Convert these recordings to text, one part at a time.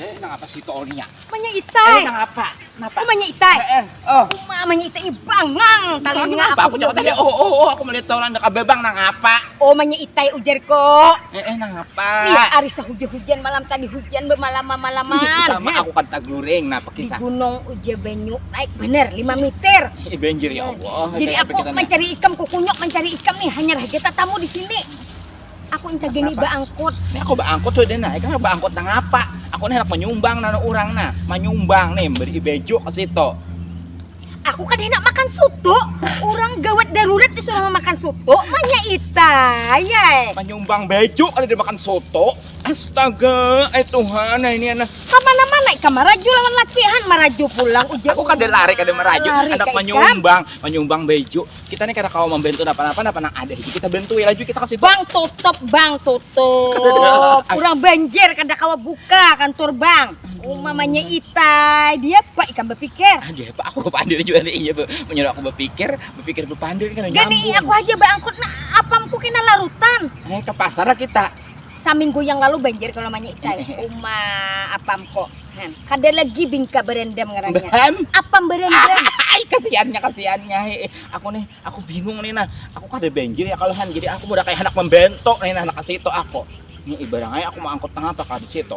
Eh, nang apa sih itu orangnya? Manya itai. Eh, nang apa? Napa? Oh, manya itai. Eh, eh. oh. Uma, manya itai bangang. Talinga apa? Aku jawab tadi, oh, oh, oh, aku melihat orang dekat bebang, nang apa? Oh, manya itai ujar kok. Eh, eh, nang apa? Lihat, hari sehujan-hujan malam tadi hujan bermalama-malaman. Iya, sama aku kan tagluring, napa kita? Di gunung ujar banyu, naik bener, lima meter. Eh, banjir ya Allah. Jadi aku mencari ikan kukunyok, mencari ikan nih, hanya raja tatamu di sini. aku inta gini baangkut nah aku baangkut tuh deh nah itu mah baangkut nang apa aku nih hendak menyumbang nang orang nah menyumbang nih beri bejo ke situ aku kan hendak makan soto orang gawat darurat disuruh makan soto manya ita ya eh. menyumbang bejo ada dia makan soto astaga eh Tuhan nah ini anak Kamana-mana ika maraju lawan laki han maraju pulang ujar aku kada lari kada meraju Lari hendak ka ikam. menyumbang menyumbang bejo kita nih kada kawa membantu apa-apa apa nang ada itu kita bantu ya laju kita kasih bang tutup bang tutup kurang banjir kada kawa buka kantor bang umamanya itai dia pak ikan berpikir aja pak aku berpandir juga nih iya menyuruh aku berpikir berpikir berpandir kan gini aku aja bangkut nah apamku kena larutan eh ke pasar kita Saminggu yang lalu banjir kalau manya ikai. Uma apam kok. Nah, kada lagi bingka berendam ngarannya. Berem. Apam berendam. Ai kasihannya kasihannya hi. Aku nih, aku bingung nih nah. Aku kada banjir ya kalau han. Jadi aku udah kayak anak membentuk nih nah, anak situ aku. Nih ibarangai aku mau angkut nang apa kada situ.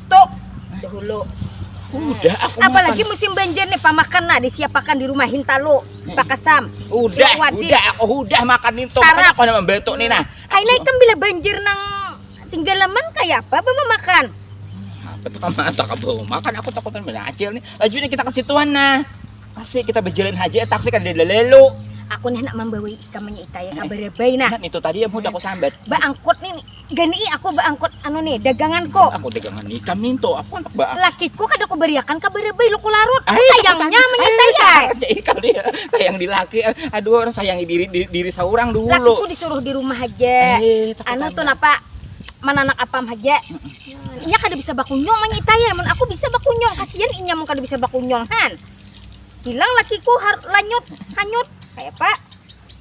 tu dahulu udah aku apalagi makan. musim banjir nih pamakan nah disiapakan di rumah hintalu hmm. pakasam udah udah aku udah makan itu tarap aku nama betuk nih nah kayak naik bila banjir nang tinggal leman kayak apa apa makan apa tuh kamu atau kamu makan aku takutan beracil nih laju nih kita ke situan nah kasih kita berjalan haji taksi kan dia lelu aku nih nak membawa ikamnya itaya kabar bayi nah itu tadi yang udah aku sambat mbak angkut nih gani i aku baangkut anu ni daganganku aku dagangan ni kami tu aku handak ba lakiku kada ku bariakan ka barabai luku larut sayangnya menyitai ai sayang di laki aduh orang sayangi diri diri saurang dulu lakiku disuruh di rumah haja anu tu napa mananak apam haja inya kada bisa bakunyung manyitai ai mun aku bisa bakunyung kasian inya mun kada bisa bakunyung han hilang lakiku lanyut hanyut kayapa.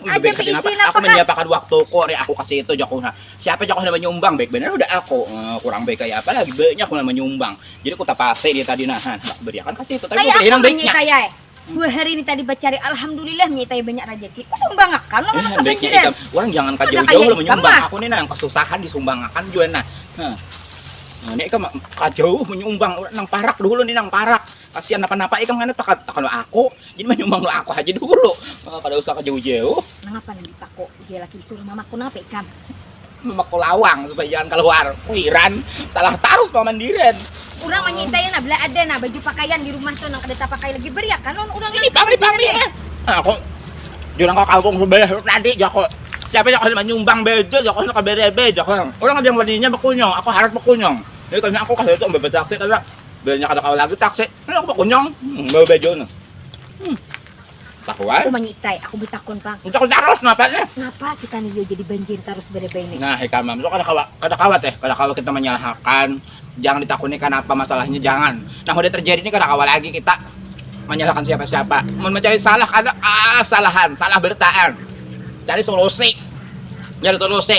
Aja keisi napa Aku menyiapakan waktu ku hari aku kasih itu jaku nah. Siapa jaku nama nyumbang baik benar udah aku eh, kurang baik kayak apa lagi banyak aku nama nyumbang. Jadi ku tapasi dia tadi nah nah, aku beriakan kasih itu tapi Kayak aku hinang baiknya. Taya, eh. Dua hari ini tadi bacari alhamdulillah nyi taya banyak rezeki. Ku sumbangakan lah mana eh, baiknya ikam. Orang jangan ka jauh-jauh lah menyumbang. Aku nih nah yang kesusahan disumbangakan juga nah. Nah, ini ikam ka jauh menyumbang nang parak dulu nih nang parak. Kasian napa-napa ikam ngana tuh takan lawan aku, jadi manyumbang lawan aku haja dulu, kada usah ka jauh-jauh. Nangapa nang dipako jar laki disuruh mamako napa ikam? Mamako lawang supaya jangan kaluar, kuiran salah tarus paman diren. Urang manyintai nah bila ada nah baju pakaian di rumah tuh nang kada tapakai lagi beriakan lawan urang nang kada dipakai eh. Aku jar nang ka kampung subalah tu tadi jarku, siapa nang kada manyumbang baju jarku nang ka berebe jarku, urang ada nang waninya bakunyung aku harat bakunyung, jadi kayanya aku kasitu babasaksi kada. Bilanya kada kawa lagi taksi, nah aku bakunyang bawa baju nah. Hmm. Tahu ai. Aku manyitai, aku bertakun pang. Bertakun tarus napa nih? Napa kita nih yo jadi banjir tarus berapa ini? Nah, hikam mam, kada kawa, kada kawa teh, kada kawa kita menyalahkan. Jangan ditakuni kenapa masalahnya jangan. Nah, udah terjadi ini kada kawa lagi kita menyalahkan siapa-siapa. Mau mencari salah ada ah, salahan, salah bertaan. Cari solusi. Cari solusi.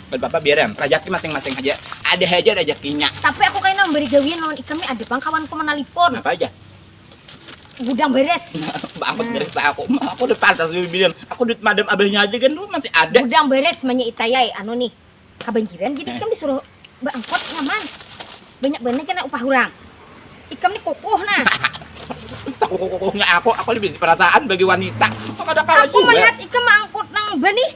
Kadapapa biar am, rajaki masing-masing haja, ada haja rajakinya. Tapi aku kaina memberi gawian lawan ikam nih ada pang kawanku manalipon. Napa haja? Gudang beres. Baangkat beres lah aku, aku udah pantas dibilang aku duit madam abahnya haja gin masih ada. Gudang beres manya itai ai, anu nih kabanjiran jadi ikam disuruh baangkot nyaman, banyak banar kena upah urang. Ikam nih kukuh nah. Sakukuh-kukuhnya aku, aku nih bisi perasaan bagi wanita, kada kawa jua. Aku malihat ikam maangkut nang banih.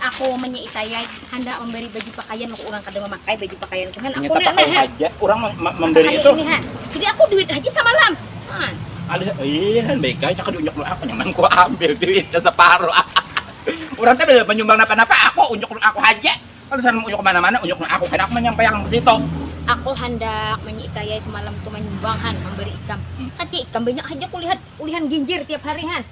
Aku menyi itayai handak memberi baju pakaian maka orang kada memakai baju pakaian kuhan aku Ternyata pakai nah, haja orang mem- mem- memberi hari itu. ini han jadi aku duit haja samalam han Ada ih han baik ai cakar diunjuk dulu aku nyaman ku ambil duitnya separuh. orang teh bela menyumbang napa-napa aku unjuk dulu aku haja. Kalau sana mau unjuk ke mana-mana unjuk dulu aku kada aku menyampaiakan ke situ. aku handak menyi itayai semalam tu manyumbang han memberi ikam Hmm. kan tia ikam banyak haja kulihat ulihan ginjir tiap hari han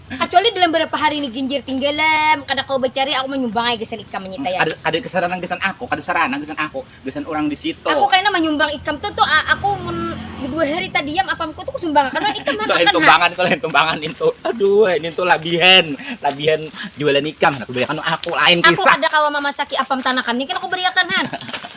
Kacuali dalam barapa hari ni ginjir tinggalam, kada kawa bacari, aku manyumbang ai gasan ikam manyita ya. Kada kada kesaranang gasan aku, kada saranang gasan aku, gasan urang di situ. Aku kena manyumbang ikam tu tu ah, aku mun bedua hari tadiam apamku tu kusumbangakan wan ikam ha, sakan ha. Itu lain sumbangan, itu lain sumbangan nintu, aduh ai nintu labihan, labihan jualan ikam, handak kuberi akan aku, lain kisah. Aku kada kawa mamasaki apam tanakan ni kena kuberi akan ha.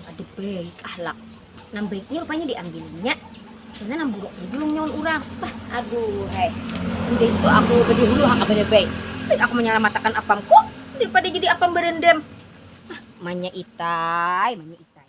Kada baik ahlak, nang baik ni rupanya diambilinya, kena nang buruk ni dulu nyaun urang. Bah, aduhai, indah itu aku badahulu ha kapada baik, baik aku manyalamatakan apamku daripada jadi apam barandam. Hah, manya itai, manya itai.